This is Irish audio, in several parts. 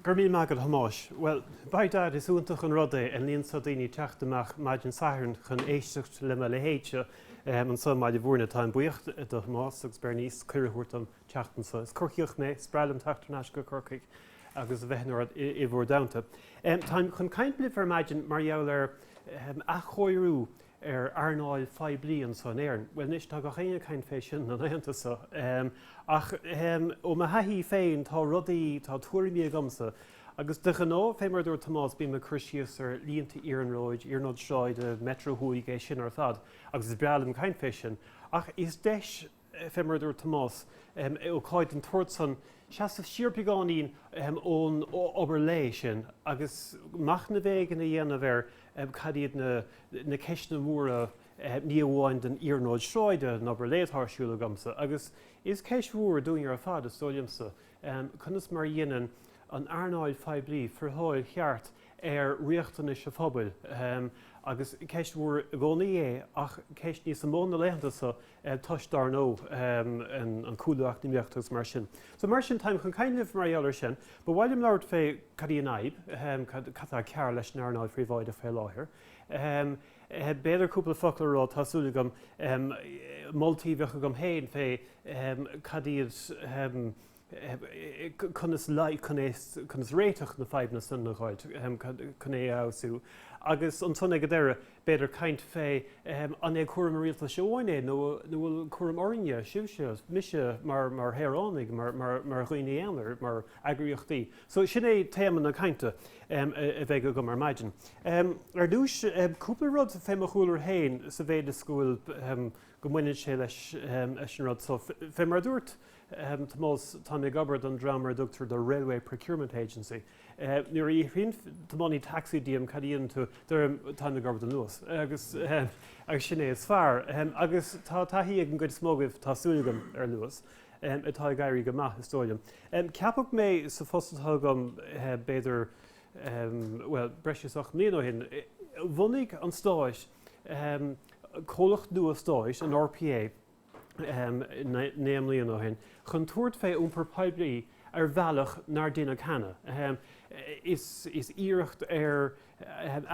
Go raibh míle maith agat a Thomáis. Bhuel, by dad, is iontach an rud é an líon seo daoine ag teacht amach maidin Sathairn chun éisteacht le mo leithéid seo anseo i mBaile Mhúirne. Táim buíoch do Thomás agus Bernice cuireadh a thabhairt dom teacht anseo. Is Corcaíoch mé, is breá liom teacht ar n-ais go Corcaigh. agus a bheith in bhur dteannta. Táim chun caint libh ar maidin mar gheall ar athchóiriú ar earnáil phoiblí anseo in Éirinn. Bhuel anois, tá gach éinne ag caint fé sin, na laethanta seo. Ach ó mo thaithí féin, tá rudaí, tá tuairimí agamsa agus de ghnó, fé mar a dúirt Tomás, bím ag cur síos ar línte iarnróid, iarnróid sráide, Metro Thuaidh, é sin ar fad agus is breá liom caint fé sin. Ach is deis Fé mar a dúirt Tomás, ócáid den tsórt san, seasamh siar beagáinín ón obair lae sin agus machnamh éigin a dhéanamh ar cad iad na ceisteanna móra, ní amháin don iarnróid sráide, an obair lae atá ar siúl agamsa, agus is ceist mhór í dúinn ar fad, is dóigh liomsa, conas mar a dhéanann an earnáil phoiblí friotháil cheart ar riachtanais an phobail. Agus ceist mhór i gcónaí é ach ceist níos mó na laethanta so toisc dar ndóigh an cúlú eacnamaíochta agus mar sin. So mar sin táim chun caint libh mar gheall ar sin. Ba mhaith liom labhairt fé cad í an fhadhb, cad atá cearr leis an earnáil phríobháideach fé láthair. B'fhéidir cúpla focal a rá, tá súil agam, moltaí a bheadh agam féin fé cad iad conas, conas réiteach na bhfadhbanna san a dh'fháilt, chun é a fheabhsú. Agus ansan ag an deireadh, b'fhéidir caint fé an é cúram an rialtais amháin é nó an bhfuil cúram orainne, sibhse, mise mar shaoránaigh, mar dhaoine aonair, mar eagraíochtaí. So sin é téama na cainte a bheidh agam ar maidin. Ar dtúis, cúpla rud fé mo chúlra féin sa mhéid is go bhfuil, go mbaineann sé leis an rud so. Fé mar a dúirt, Tomás, Tá mé ag obair don dream ar a dtugtar the Railway Procurement Agency. Nuair a iarrann tiománaí taxi díom cad a dhéanann tú, deirim 'táim ag obair don Luas agus sin é is fearr. Agus tá taithí ag an gcuid is mó agaibh, tá súil agam, ar an Luas atá ag éirí go maith, is dóigh liom. Ceapadh mé sa phost atá agam b'fhéidir, bhuel, breis is ocht mbliana ó shin. Bhunaigh an Stát comhlacht nua Stáit, an RPA, naoi mbliana ó shin chun tabhairt fé iompar poiblí ar bhealach nár deineadh cheana. Is iarracht ar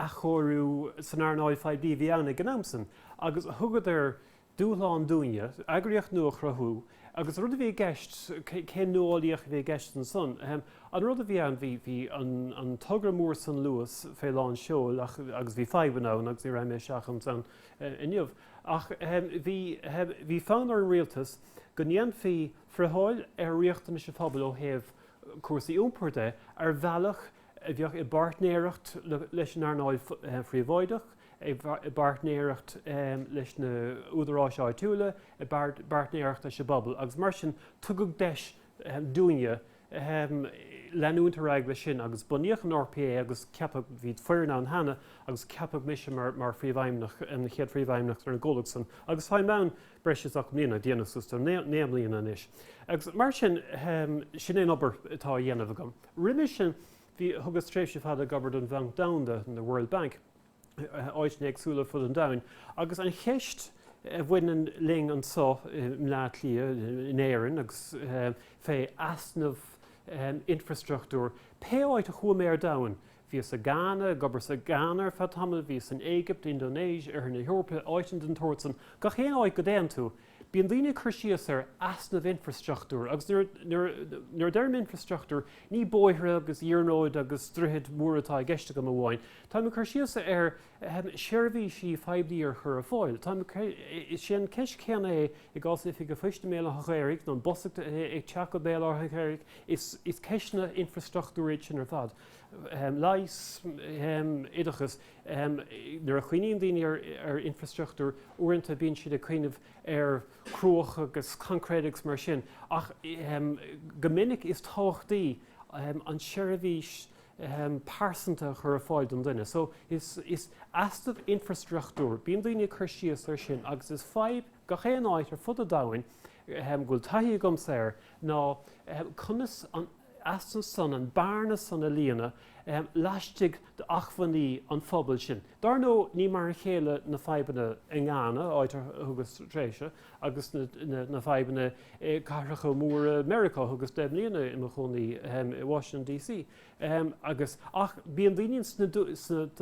athchóiriú san earnáil phoiblí a bhí ann ag an am san agus thugadar dúshlán dúinne eagraíocht nua a chruthú agus an rud a bhí i gceist, céim nuálaíoch a bhí i gceist ansan. An rud a bhí ann, bhí an togra mór san Luas fé lán seoil agus bhí fadhbanna ann agus ní rachaidh mé isteach insan inniu. Ach bhí fonn ar an rialtas go ndéanfaí friotháil ar riachtanais an phobail ó thaobh cúrsaí iompair de ar bhealach a bheadh i bpáirtnéireacht leis an earnáil phríobháideach, i bpáirtnéireacht leis na údaráis áitiúla, i bpáirtnéireacht leis an bpobal agus mar sin tugadh deis dúinne ahem, leanúint ar aghaidh leis sin agus bunaíodh an RPA agus ceapadh, bhí foireann ann cheana agus ceapadh mise mar, mar phríomhfheidhmeannach, an chéad phríomhfheidhmeannach ar an gcomhlucht san agus táim ann breis is ocht mbliana, ag déanamh suas le naoi, naoi mbliana anois. Agus mar sin, ahem, sin é an obair atá á dhéanamh agam. Roimhe sin, bhí, thugas tréimhse fada ag obair don Bhanc Domhanda, the World Bank, áiteanna éagsúla ar fud an domhain agus an cheist a bhaineann linn anseo i mBleá Cliath, in Éirinn agus fé easnamh infreastruchtúir. Pé áit a chuaigh mé ar domhain, bhíos i Ghana, ag obair sa Ghana ar feadh tamaill, bhíos san Éigipt, Indonéis, Oirthear na hEorpa, áiteanna den tsaghas san, gach aon áit go dtéann tú, Bíonn daoine ag cur síos ar easnamh infreastruchtúir agus nuair a deirim infreastruchtúr ní bóithre agus iarnróid agus droichid mhóra atá i gceist agam amháin. Táim ag cur síos ar, ahem, seirbhísí phoiblí a chur ar fáil. Táim, sin an ceist céanna é i gcás oifig an phoist i mBéal Átha an Ghaorthaidh nó an bus ag teacht go Béal Átha an Ghaorthaidh, is ceisteanna infreastruchtúir iad sin ar fad, ahem, leigheas, ahem, oideachas. Nuair a chuimhníonn daoine ar infreastruchtúr, uaireanta bíonn siad ag cuimhneamh ar cruach agus concrete agus mar sin ach go minic is tábhachtaí an seirbhís pearsanta a chur ar fáil don duine. So is easnamh infreastruchtúr, bíonn daoine ag cur síos ar sin agus is fadhb gach aon áit ar fud an domhain go bhfuil taithí agamsa air ná conas an easnamh san, an bearna san a líonadh laistigh d'acmhainní an phobail sin. Dar ndó ní mar a chéile na fadhbanna i nGhana, áit ar thugas tréimhse agus na fadhbanna i gcathracha móra Meiriceá. Thugas deich mbliana i mo chónaí i Washington DC agus ach bíonn daoine sna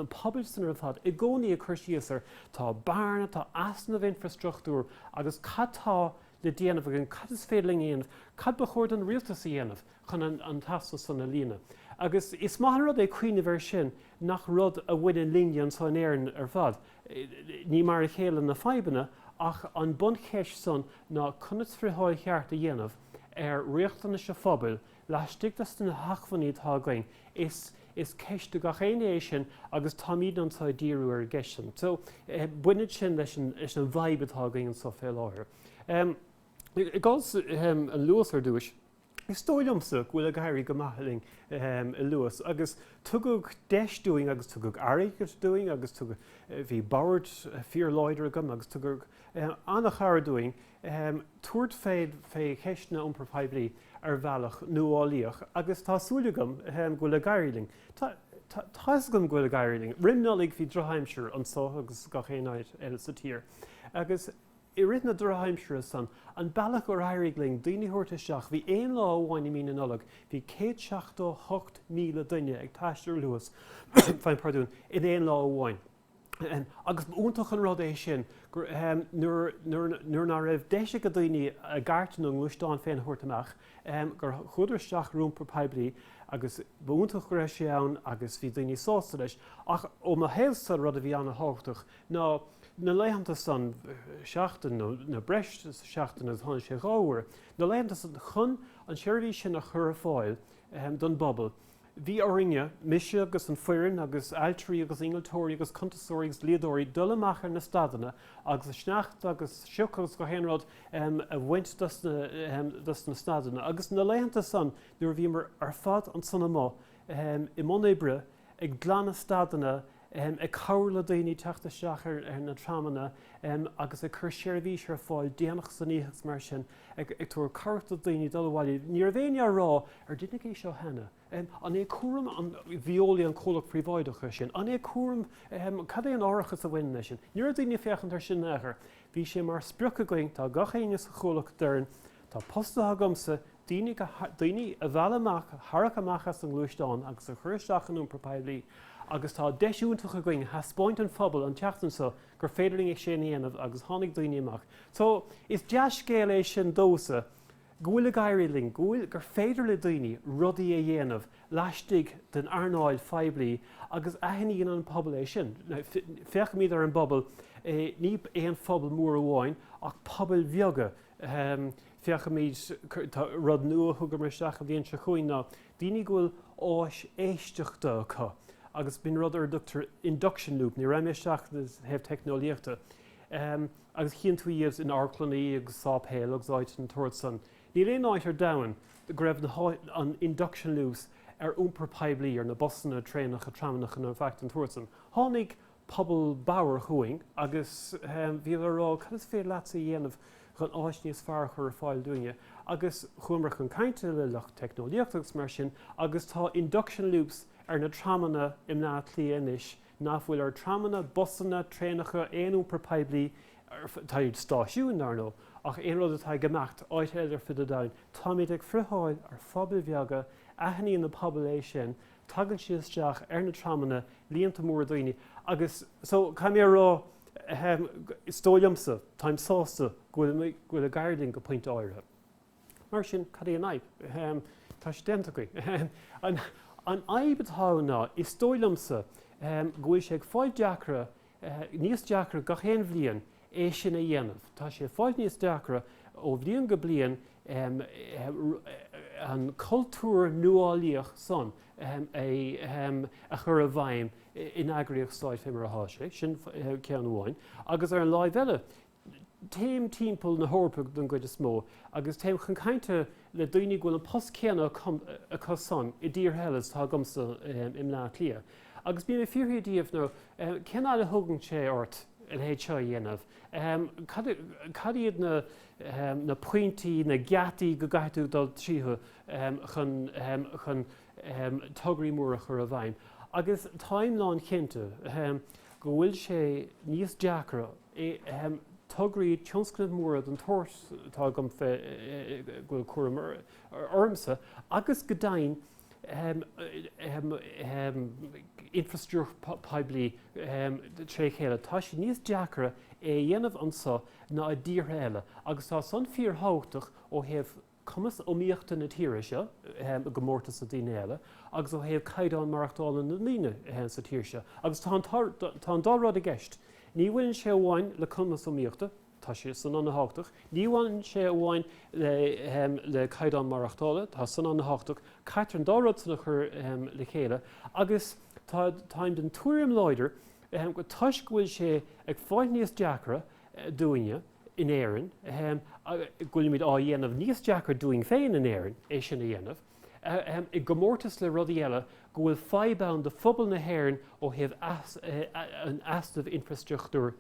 pobail san ar fad i gcónaí ag cur síos ar tá bearna, tá easnamh infreastruchtúir agus cad tá le déanamh againn, cad is féidir linn a dhéanamh, cad ba chóir don rialtas a dhéanamh chun an t-easnamh san a líonadh. Agus is maith an rud é cuimhneamh air sin nach rud a bhaineann linne anseo in Éirinn ar fad. Ní mar a chéile na fadhbanna ach an buncheist san ná conas friotháil cheart a dhéanamh ar riachtanais an phobail Laistigh de na hacmhainní atá againn, is is ceist do gach éinne é sin agus táimid anseo ag díriú ar an gceist sin. So baineann sin leis an leis an bhfadhb atá againn anseo fé láthair. I gcás an Luas ar dtúis, is dóigh liomsa go bhfuil ag éirí go maith linn i Luas agus tugadh deis dúinn agus tugadh airgead dúinn agus tugadh bhí board fíor láidir agam agus tugadh an-chabhair dúinn tabhairt fé fé cheisteanna iompair phoiblí ar bhealach nuálaíoch agus tá súil agam go bhfuil ag éirí linn. Tá a fhios agam go bhfuil ag éirí linn. Roim Nollaig bhí drochaimsir anseo agus gach aon áit eile sa tír agus i rith na drochaimsire san, an bealach ar éirigh linn daoine a thabhairt isteach, bhí aon lá amháin i mí na Nollag, bhí 178,000 duine ag taisteal ar Luas, faighim pardún, in aon lá amháin. agus ba iontach an rud é sin nuair ná raibh deis ag daoine a gcairt nó a ngluaisteán féin a thabhairt amach, gur chuadar isteach ar iompar poiblí agus ba iontach go raibh sé ann agus bhí daoine sásta leis. Ach ó mo thaobhsa rud a bhí an-tábhachtach ná na laethanta san, seachtain nó breis is seachtain agus tháinig sé dhá uair, na laethanta san chun an tseirbhís sin a chur ar fáil don bpobal. Bhí orainne, mise agus an foireann agus ailtirí agus innealtóirí agus cuntasóirí agus dlíodóirí, dul amach ar na stadanna agus an sneachta agus sioc agus gach aon rud a bhaint dos na stadanna. Agus na laethanta san nuair a bhíomar ar fad ansan amuigh i mbun oibre ag glanadh stadanna, ag cabhair le daoine teacht isteach ar na tramanna agus ag cur seirbhís ar fáil déanach san oíche agus mar sin, ag tabhairt cabhrach do dhaoine dul abhaile. Ní raibh éinne á rá, ar deineadh é seo cheana? An é cúram Veolia an comhlacht príobháideach é sin? An é cúram, cad é an árachas a bhaineann leis sin? Ní raibh daoine ag féachaint air sin in aon chor. Bhí sé mar sprioc againn, tá gach éinne sa chomhlacht a deireann, Tá post agamsa, daoine a mhealladh amach, a tharrac amach as an ngluaisteán agus a chur isteach san iompar poiblí agus tá deis iontach againn a theaspáint don phobal an tseachtain seo gur féidir linn é sin a dhéanamh agus tháinig daoine amach. So, is dea-scéal é sin domhsa go bhfuil ag éirí linn, go bhfuil, gur féidir le daoine rudaí a dhéanamh laistigh den earnáil phoiblí agus aithníonn an pobal é sin. Féachaimid ar an bpobal, ní aon phobal mór amháin ach pobail bheaga, Féachfaimid. Rud nua a thugamar isteach le blianta chuig ná daoine go bhfuil áis éisteachta acu agus bíonn rud ar a dtugtar induction loop, ní raghaidh mé isteach ó thaobh teicneolaíochta, agus chíonn tú iad in amharclannaí agus sáipéil agus áiteanna den tsórt san. Níl aon áit ar domhan go raibh na induction loops ar iompar poiblí, ar na busanna, traenacha, tramanna, ná faic den tsórt san. Tháinig pobal bodhar chugainn agus bhíodar ag rá cad is féidir leatsa a dhéanamh chun áis níos fearr a chur ar fáil dúinne agus chuamar chun cainte le lucht teicneolaíochta agus mar sin agus tá induction loops ar na tramanna i mBleá Cliath anois ná fuil ar tramanna, busanna, traenacha, aon iompar poiblí, táid i stáisiúin dar ndóigh ach aon rud atá ag imeacht in aon áit eile ar fud an domhain, táimid ag friotháil ar phobail bheaga, aithníonn an pobal é sin tagann siad isteach ar na tramanna, líonta móra daoine agus so caithfidh mé a rá, ahem, is dóigh liomsa, táim sásta go bhfuil, go bhfuil ag éirí linn go pointe áirithe. Mar sin, cad é an fhadhb? Ahem, tá sé déanta againn. Ahem. An, an fhadhb atá ann ná, is dóigh liomsa, ahem, go bhfuil sé ag fáil deacra níos deacra gach aon bhliain é sin a dhéanamh. Tá sé ag fáil níos deacra ó bhliain go bliain an cultúr nuálaíoch san a chur i bhfeidhm in eagraíocht stáit fé mar atá sé. Sin ceann amháin agus ar an láimh eile, Téim timpeall na hEorpa don gcuid is mó agus téim chun cainte le daoine go bhfuil an post céanna acu san i dtíortha eile is atá agamsa i mBleá Cliath. Agus bím ag fiafraí díobh, nó, cén fhaid a thugann sé ort a leithéid seo a dhéanamh? Cad iad na pointí, na geataí go gcaithfidh tú dul tríothu chun tograí móra a chur i bhfeidhm? Agus táim lánchinnte go bhfuil sé níos deacra e ahem tograí tionscnaimh mhóra den tsórt atá agam fé go bhfuil cúram ormsa agus go deimhin ahem ahem ahem infrastruchtúr poiblí ahem tré chéile. Tá sé níos deacra é a dhéanamh anseo ná i dtíortha eile agus tá san fíorthábhachtach ó thaobh na. cumas iomaíochta na tíre seo i gcomórtas le tíortha eile agus ó thaobh caighdeán maireachtála na ndaoine sa tír seo agus tá an tá an dá rud i gceist. Ní bhaineann sé amháin le cumas iomaíochta, tá sé san ana thábhachtach, ní bhaineann sé amháin le le caighdeán maireachtála, tá san ana thábhachtach, caitear an dá rud san a chur le chéile agus tá táim den tuairim láidir go toisc go bhfuil sé ag fáil níos deacra dúinne, in Éirinn, ahem, go bhfuilimid á dhéanamh níos deacra dúinn féin in Éirinn é sin a dhéanamh, ahem, i gcomórtas le rudaí eile, go bhfuil fadhb ann de phobal na hÉireann ó thaobh an easnamh infreastruchtúir,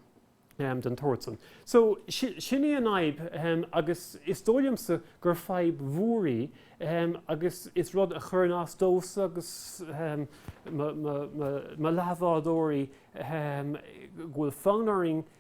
ahem, den tsórt san. So, sin í an fhadhb, ahem, agus is dóigh liomsa gur fadhb mhór í, ahem, agus is rud a chuireann as domhsa agus, ahem, mo leathbhádóirí, ahem, go bhfuil fonn orainn,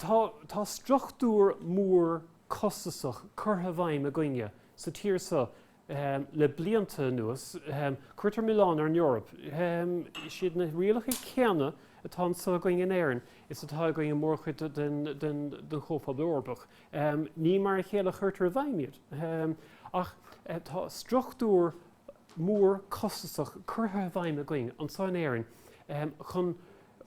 Tá struchtúr mór costasach curtha i bhfeidhm againne sa tír seo le blianta anuas. Cuirtear milleán ar an Eoraip. Is iad na rialacha céanna atá anseo againn in Éirinn is atá againn i mórchuid den Chomhphobal Eorpach. Ní mar a chéile a chuirtear i bhfeidhm iad. Ach tá struchtúr mór costasach curtha i bhfeidhm againn anseo in Éirinn chun.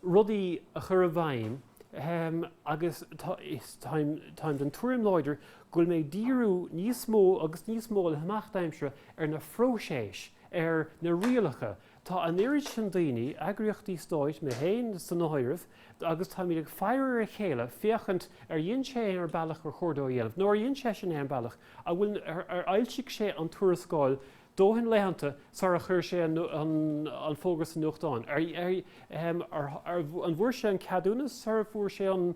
rudaí a chur i bhfeidhm agus táim den tuairim láidir go bhfuilimid ag díriú níos mó agus níos mó le himeacht aimsire ar na phróiséis, ar na rialacha. Tá an oiread sin daoine, eagraíochtaí stáit, mé féin san áireamh, agus táimid ag faire ar a chéile féachaint ar dhein sé é ar bealach ar chóir dó a dhéanamh nó ar dhein seisean é ar an bealach a bhfuil, ar fhoilsigh sé an tuarascáil dóthain laethanta sara chuir sé an fógra sa nuachtán? An bhfuair sé an ceadúnas sara bhfuair sé an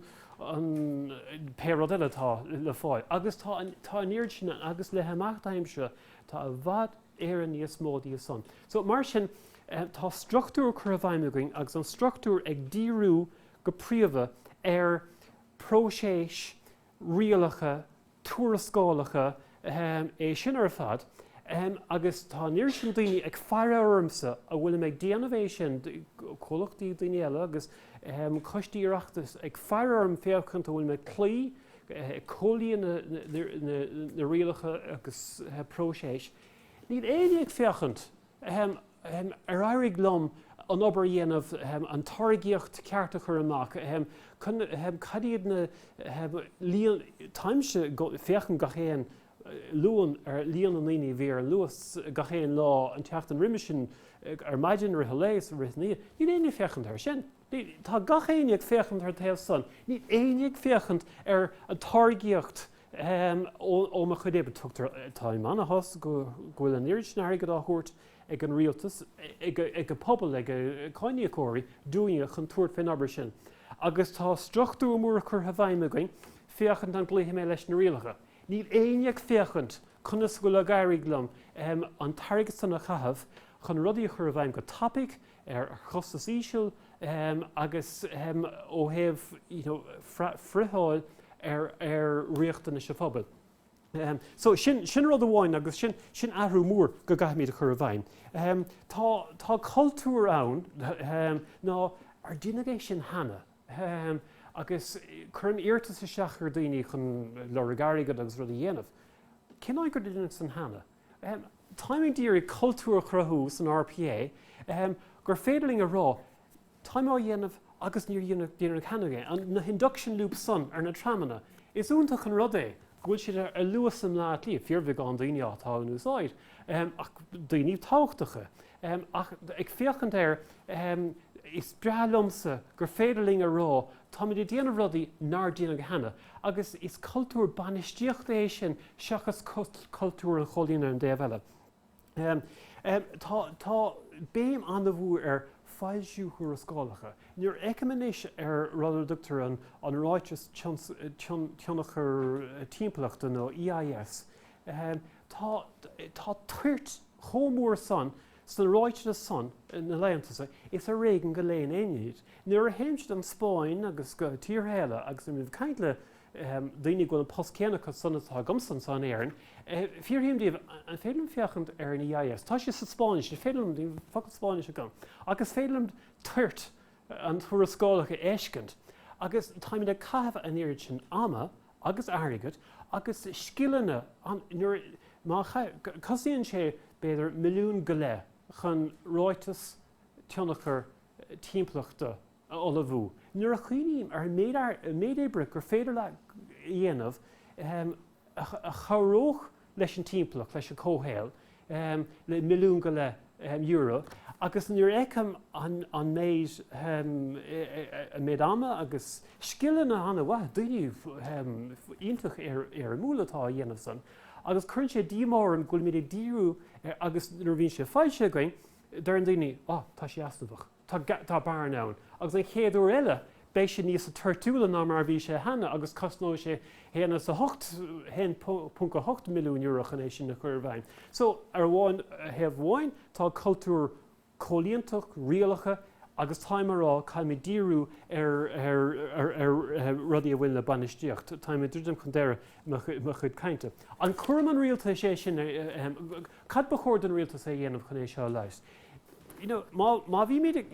pé rud eile atá le fáil? Agus tá an oiread sin agus le himeacht aimsire tá i bhfad Éireann níos mó díobh san. So mar sin tá struchtúr curtha i bhfeidhm againn agus an struchtúr ag díriú go príomha ar próiseas rialacha, tuarascálacha, ahem, é sin ar fad, ahem, agus tá an oiread sin daoine ag faire ormsa an bhfuilim ag déanamh é sin, comhlachtaí, daoine eile agus, ahem, coistí Oireachtais ag faire orm féachaint an bhfuil mé ag cloí, ag comhlíonadh na rialacha agus, ahem, próiseas. Níl éinne ag féachaint. ahem, ahem, ar éirigh liom an obair a dhéanamh, ahem, an táirgíocht ceart a chur amach, ahem, cun, ahem, cad iad na, ahem, líon, táimse go, féachaint gach aon Luan ar líon na ndaoine a bhí ar an Luas gach aon lá an tseachtain roimhe sin ar maidin, i rith an lae is i rith na, níl éinne ag féachaint air sin. Ní, tá gach éinne ag féachaint ar an taobh san. Níl éinne ag féachaint ar an táirgíocht ó mo chuid oibre. Tugtar, tá ionchas go bhfuil an oiread sin airgid á thabhairt ag an rialtas, ag an pobal, ag cáiníocóirí dúinne chun tabhairt fén obair sin. Agus tá struchtúr mór curtha i bhfeidhm againn féachaint an gcloífidh mé leis na rialacha. Níl éinne ag féachaint conas a bhfuil ag éirí liom an t-airgead san a chaitheamh chun rudaí a chur i bhfeidhm go tapaidh, ar chostas íseal agus ó thaobh friotháil ar ar riachtanais an phobail. So sin sin rud amháin agus sin sin athrú mór go gcaithfimid a chur i bhfeidhm. Tá tá cultúr ann nár deineadh é sin cheana agus cuirim iarratas isteach ar dhaoine chun lorg airgead agus rud a dhéanamh. Cén áit gur deineadh san cheana? Táimid ag iarraidh cultúr a chruthú san RPA gur féidir linn a rá 'táim á dhéanamh agus níor deineadh cheana é', na hinduction loops san ar na tramanna. Is iontach an rud é go bhfuil siad ar Luas i mBleá Cliath, fíorbheagán daoine atá á n-úsáid ach daoine tábhachtacha. Ach ag féachaint air is breá liomsa gur féidir linn a rá 'táimid ag déanamh rudaí nár deineadh cheana'. Agus is cultúr bainistíochta é sin seachas cultúr an chomhlíonadh ar an dtaobh eile. Tá béim an-mhór ar foilsiú tuarascálacha. Nuair a fheicim anois ar rud a dtugtar an Ráiteas Tionchair Timpeallachta nó EIS, tá toirt chomh mór san Sna ráitis san, na laetheanta so, is ar éigin go léann éinne iad. Nuair a théimse don Spáinn agus go tíortha eile agus nuair a bhím ag caint le daoine a bhfuil an post céanna acu san atá agamsa anso in Éirinn, fiafraím díobh, an féidir liom féachaint ar an EIS? Tá sé sa Spáinnis, an féidir liom, níl focal Spáinnis agam, agus is féidir liom toirt an tuarascálach a fheiscint. Agus táimid ag caitheamh an oiread sin ama agus airgead agus scileanna má chosnaíonn sé b'fhéidir milliún go leith chun ráiteas tionchar timpeallachta a ullmhú nuair a chuimhním ar an méid oibre gur féidir leat a dhéanamh a chabhródh leis an timpeallacht, leis an comhshaol, le milliún go leith euro agus nuair a fheicim an méid, an méid ama agus scileanna an-mhaith, daoine iontach éirimiúla atá á dhéanamh san agus cuireann sé díomá orm go bhfuilimid ag díriú, agus nuair a bhíonn sé faighte againn, deireann na daoine, oh, tá sé easnamhach. Tá, tá bearna ann. Agus an chéad uair eile beidh sé níos toirtiúla ná mar a bhí sé cheana agus cosnóidh sé haon as a hocht, haon ponc a hocht milliún euro chun é sin a chur i bhfeidhm. So, ar amháin, thaobh amháin tá cultúr comhlíontach, rialacha agus táim a rá caithfimid díriú ar, ar, ar, ar rudaí a bhaineann le bainistíocht. Táim ag druidim chun deireadh mo chuid cainte. An cúram an rialtais é sin, cad ba chóir don rialtas a dhéanamh chun é seo a leigheas? Má bhímid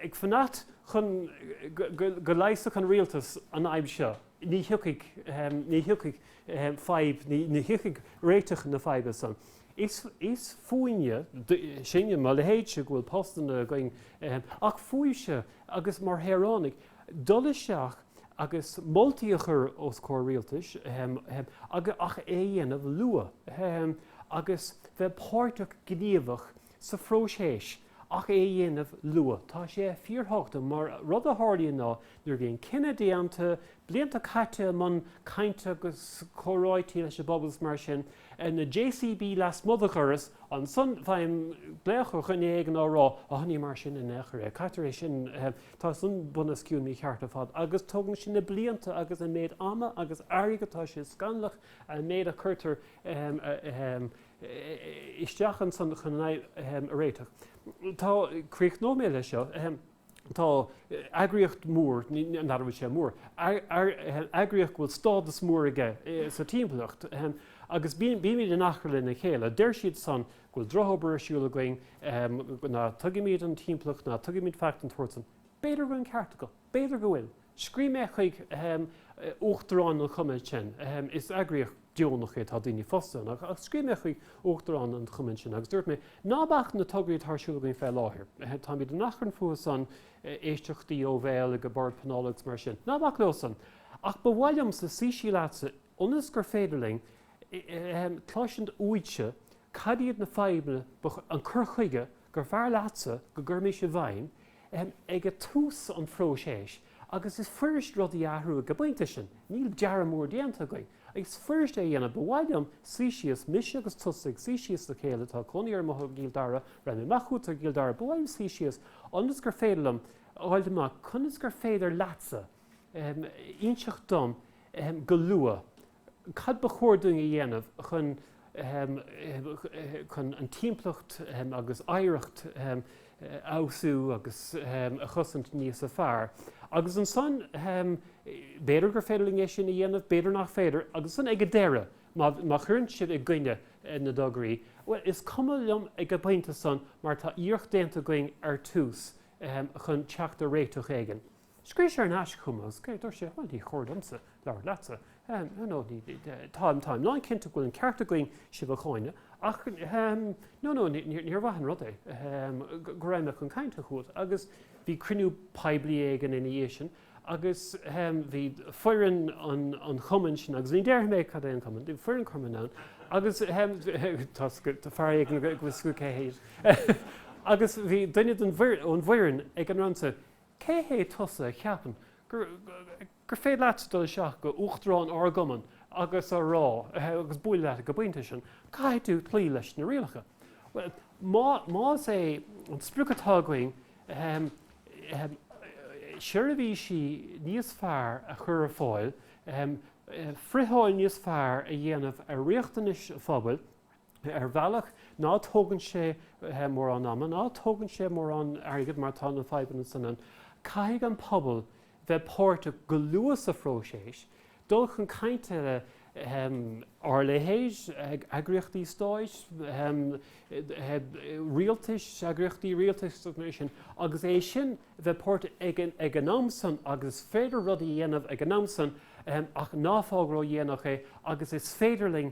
ag fanacht chun go leigheasfadh an rialtas an fhadhb seo, ní thiocfaidh fadhb, ní thiocfaidh réiteach na faidhbe san. Is fúinne, sinne, mo leithéidse, go bhfuil postanna againn, ach fúibhse agus mar shaoránaigh, dul isteach agus moltaí a chur os comhair rialtais ach é a dhéanamh luath agus bheith páirteach gníomhach sa phróiseas ach é a dhéanamh luath. Tá sé fíorthábhachtach mar rud a tharlaíonn ná nuair a bhíonn cinneadh déanta, blianta caite i mbun cainte agus comhráití leis an bpobal is mar sin, na JCB lasmuigh de dhoras, ansan faighim glaoch ó dhuine éigin á rá, 'Á ní mar sin in aon chor é, caitear é sin. Tá san bunoscionn mícheart ar fad agus tógann sé na blianta agus an méid ama agus airgid. Tá sé scannalach an méid a chuirtear isteach ansan chun é a réiteach. Tá, críochnóidh mé leis seo, tá eagraíocht mór, nach bhfuil sé mór, eagraíocht go bhfuil stádas mór aige sa timpeallacht agus bímid in achrann lena chéile. Deir siad san go bhfuil drochobair ar siúl againn, ná tuigimid an timpeallacht, ná tuigimid faic den tsórt san. B'fhéidir go bhfuil an ceart acu. B'fhéidir go bhfuil. Scríobh mé chuig uachtarán an chumainn sin, is eagraíocht deonach é, tá daoine fostaithe ann, ach scríobh mé chuig uachtarán an chumainn sin agus dúirt mé, ná bac na tograí atá ar siúl againn fé láthair, táimid in achrann fúthu san, éisteachtaí ó bhéal ag an Bord Pleanála agus mar sin, ná bac leo san. Ach ba mhaith liomsa suí síos leatsa, ionas gur féidir linn cloisint uaitse cad iad na fadhbanna, an cur chuige gur fearr leatsa go gcuirfimis i bhfeidhm ag tús an phróiséis agus is fuirist rudaí a athrú ag an bpointe sin. Níl dearadh mór déanta againn, is fuirist é a dhéanamh. Ba mhaith liom suí síos, mise agus tusa ag suí síos le chéile, tá cónaí air amuigh i gCill Dara, rachaidh mé amach chugat i gCill Dara, ba mhaith liom suí síos ionas gur féidir liom a fháilt amach conas gur féidir leatsa, inseacht dom go luath cad ba chóir dúinn a dhéanamh chun an timpeallacht agus oidhreacht a fheabhsú agus a chosaint níos fearr. Agus ansan, b'fhéidir gur féidir linn é sin a dhéanamh, b'fhéidir nach féidir. Agus ansan ag an deireadh, má chuireann sibh i gcoinne na dtograí, bhuel, is cuma liom ag an bpointe san mar tá iarracht déanta againn ar tús chun teacht ar réiteach éigin. Scríobh sé ar ais chugam agus dúirt sé, bhuel, ní cóir domsa labhairt leatsa, you know, táim lán cinnte go bhfuil an ceart againn sibh a cháineadh ach no, no, níor mhaith an rud é go raibh mé chun cainte chugat agus bhí cruinniú poiblí éigin ina dhiaidh sin agus bhí foireann an chumainn sin agus ní déarfaidh mé cad é an cumann, bhí foireann cumainn ann agus fear éigin ag fiafraí cé hé agus bhí duine ón bhfoireann ag an rant seo. Cé hé tusa a cheapann gur féidir leatsa dul isteach go hUachtarán ár gCumann agus a rá, agus bualadh leis ag an bpointe sin, caithfidh tú cloí leis na rialacha? Bhuel, más é an sprioc atá againn seirbhísí níos fearr a chur ar fáil, friotháil níos fearr a dhéanamh ar riachtanais an phobail, Ar bhealach, ná tógann sé mórán ama, ná tógann sé mórán airgid mar tá na fadhbanna san ann. Caithfidh an pobal bheith páirteach go luath sa phróiseas, dul chun cainte le ár leithéid, eagraíochtaí stáit, rialtais, eagraíochtaí rialtais sin, agus é sin bheith páirteach ag an am san agus is féidir rudaí a dhéanamh ag an am san ach ná fág ródhéanach é agus is féidir linn